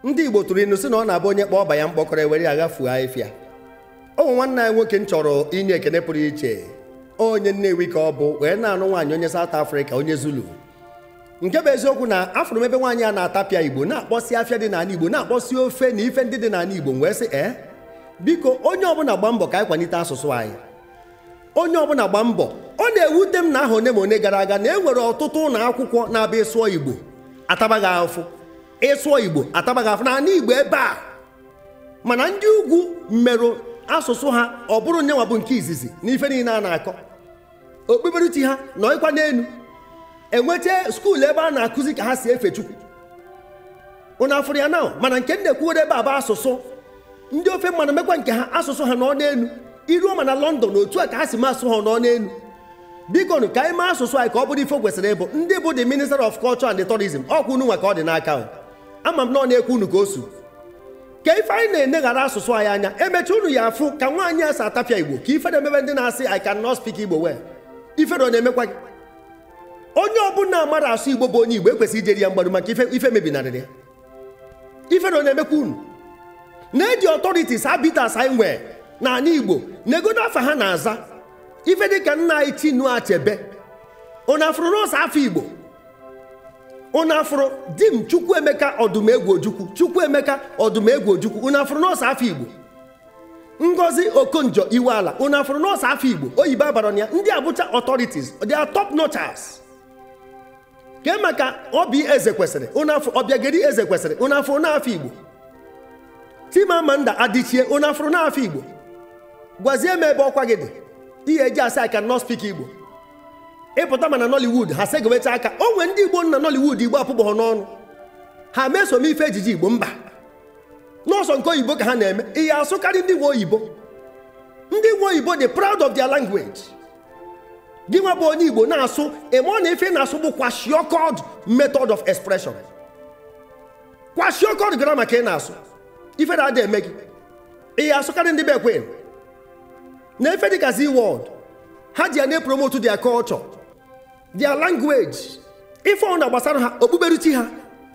ndị Igbo tụrụ inu si na ọ na-abụ onye kpọọ ọba ya mkpọkọrọ ewere ya ghafuo ahịfịa o nwee nwanne anyị nwoke m chọrọ inye ekene pụrụ iche onye Nnewi ka ọ bụ wee na-anụ nwaanyị onye South Africa onye Zulu nke bụ eziokwu na afụrụ m ebe nwaanyị a na-atapịa Igbo na-akpọsi afịa dị n'anị Igbo na-akpọsi ofe na ife ndị dị n'anị Igbo m wee sị ee eh, biko onye ọbụna gba mbọ ka anyị kwanite asụsụ anyị onye ọbụna gba mbọ ọ na-ewute m na ahọ one ma one gara aga na e nwere ọtụtụ ụnọ akwụkwọ na-abụ ị sụọ Igbo ataba ghị ahụfụ ị sụọ igbo ataba ghị afụfụ n'ala igbo ebe a mana ndị ugwu merụ asụsụ ha ọ bụrụ nyenwa bụ nke izizi n'ife niile a na-akọ okpukperechi ha nọkwa n'enu enweta skuul ebe a na-akụzi ka ha si efe chukwu unu afụrụ ya now mana nke m na-ekwuwere ebe a bụ asụsụ ndị ofe mmanụ mekwa nke ha asụsụ ha nọ n'enu i ruo ma na London otu a ka ha si mee asụ ha nọ n'enu biko nụ ka anyị mee asụsụ anyị ka ọ bụrụ ife o kwesịrị ịbụ ndị bụ the minister of culture and tourism ọkwa unu nwa ka ọ dị n'aka ama m na ọ na-ekwu unu ka o su ka ife anyị na-eneghara asụsụ anyị anya emecha unu ya afụ ka nwaanyị a si atapịa igbo ka ifere mebe ndị na-asị I cannot speak igbo well ifere ọ na-emekwa gị onye ọbụna amarọ asụ igbo bụ onye igbo ekwesịrị ijeri ya mgbaru maka ife mebinarịrị ya ifere ọ na-emekwa unu neezi authorities arbiters anyị nwee n'ala igbo neegodo afa ha na-aza ife dịka nna anyị chinua achebe unu afụrụ na ọ sọ afa igbo unu afụrụ dim chukwuemeka ọdụmegwu ojukwu chukwuemeka ọdụmegwu ojukwu unu afụrụ na ọ sọ afa igbo ngozi okonjo iweala unu afụrụ na ọ sọ afa igbo oyibo abarọ na ya ndị a bụcha authorities they are top notchers kee maka oby ezekwesịrị unu afụ obiageri ezekwesịrị unu afụrụ na ọ afa igbo chimamanda adichie unu afụrụ na ọ afa igbo gwazie m ebe ọkwa gị dị ị ya eji asị I cannot speak igbo ị pụta ma na nollywood ha segowecha aka o nwee ndị igbo nọ na nollywood igbo apụbọghọ n'ọnụ ha meso m ife ejiji igbo mba na ọ sọ nke oyibo ka ha na-eme ị ya asụkarị ndị nwe oyibo ndị nwe oyibo dị proud of their language gị nwa bụ onye igbo na-asụ ị marọ na ife ị na-asụ bụ kwashiorkored method of expression kwashiorkored grammar ka ị na-asụ ifere adị eme gị ị ya asụkarị ndị bekee na ife dịka zee world ha ji ya na-epromote their culture their language ife ọbụna gbasara ha okpukperechi ha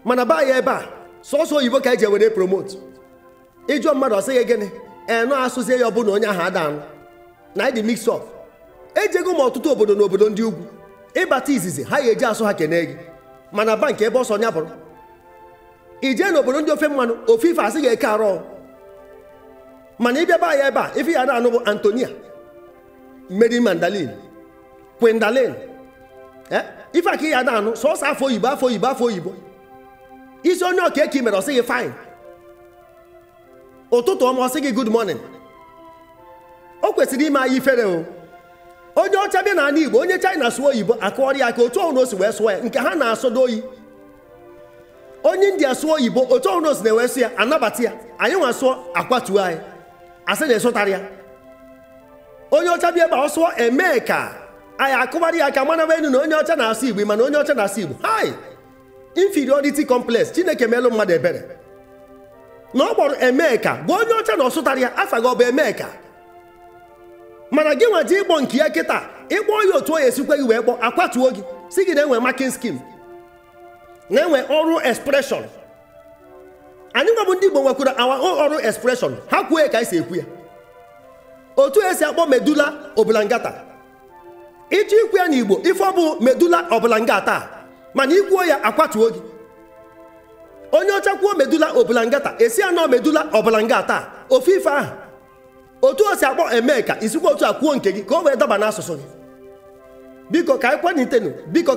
mana be anyị ebe a sọsọ oyibo ka anyị ji ewere promote ị jụọ mmadụ ọ sị ghị gịnị enụ asụzie ya ọ bụ na onye ahụ ada anụ na ịdị mix up ejego m ọtụtụ obodo na obodo ndị ugwu ị bata izizi ha ga-eji asụ ha kene gị ma na bank ebe ọsọ nya bụrụ i jee na obodo ndị ofe mmanụ ofu ife a sị ghị e kaaro mana ị bịa be anyị ebe a ife ị ya na-anụ bụ anthonia mary magdalene gwendolyn eh? ife a ka ị ya na-anụ sọsọ afa oyibo afa oyibo afa oyibo ị sị onye ọ kee ka i mere ọ sị gị fine ụtụtụ ọma ọ sị gị good morning o kwesịrị ime anyị ifere o onye ọcha bịa n'ala igbo onye china sụọ oyibo a kụọrọ ya aka otu ọbụna o si wee sụọ ya nke ha na-asọdu oyi onye india sụọ oyibo otu ọbụna o sina wee sụ ya a nabata ya anyị nwa sụọ akwatuo anyị a sị na asụtarọ ya onye ọcha bịa ebe a ọ sụọ emeka anyị akụbara ya aka mara enu na onye ọcha na-asụ igbo mana onye ọcha na-asụ igbo hai inferiority complex chineke meelụ mmadụ ebere na ọ kpọrọ emeka bụ onye ọcha na ọ sụtara ya afa gị ọ bụ emeka mana gị nwa jee ịkpọ nke ya kịta ị kpọ ya otu ọ ya-esi kwe gị wee kpọ akwatuo gị sị gị na e nwe marking scheme na e nwe oral expression anyị nwa bụ ndị Igbo nwekwara our oral expression ha kwuo ya ka anyị si ekwu ya otu e si akpọ medulla oblongata ị chọọ ikwu ya n'igbo ife ọ bụ medulla oblongata mana i kwuo ya akwatuo gị onye ọcha kwuo medulla oblongata a sị ya no medulla oblongata ofu ife ahụ otu o si akpọ emeka i sikwa otu a kwuo nke gị ka o wee daba n'asụsụ gị biko ka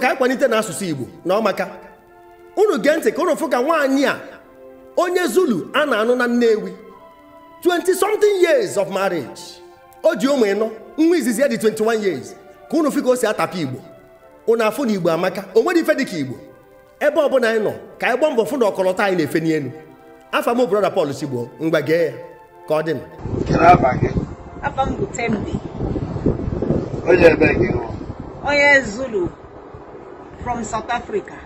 anyị kwalitenu asụsụ igbo na ọ maka unu gee ntị ka unu fụ ka nwaanyị a onye zulu a na-anụ na nnewi 20 something years of marriage o ji ụmụ ịnọ nwa izizi ya dị 21 years ka unu fụ ka o si atapụ igbo unu afụ na igbo amaka o nwere ife dịka igbo ebe ọ bụla anyị nọ ka anyị gbaa mbọ fụ na ọkọlọtọ anyị na-efe n'elu afa m brother Paul Chigbo ngwa gee ya ka ọ dị m Kedu afa gị? Afa m bụ Tembi, Onye ebee ka ị bụ? onye Zulu from South Africa.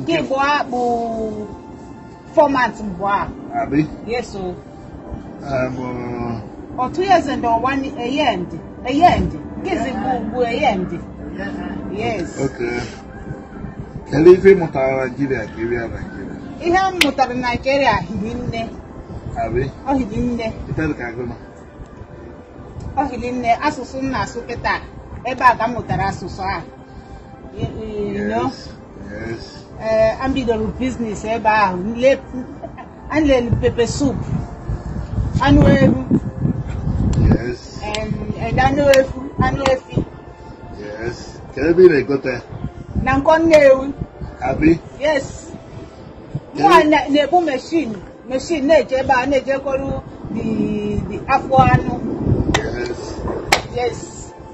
nke ịbụa bụ fọmat mbụ a Abi. yes o Um, uh, otu yeze ndị ọwa a year and a year and nke izi bụ a year and yes okay. Kedu ife ị mụtara Naijiria ka ị bịa Naijiria? ihe m mụtara na naijiria hiri nne Abi. ọ hiri nne Itere ka agụ nọ. ọ hiri nne asụsụ m na-asụ kịta ebe a ka m mụtara asụsụ a Yes. Yes. Eh, m bidoro business ebe ahụ le- m lere pepper soup anụ ewu Yes. and anụ efu anụ efi Yes. Kedu ebe ị na-egote? na nkwọ nnewi Abi? yes Kedu- mụwa na- na-ebu machine machine na-eje ebe a na-ejekọrọ the the afọ anụ Yes. yes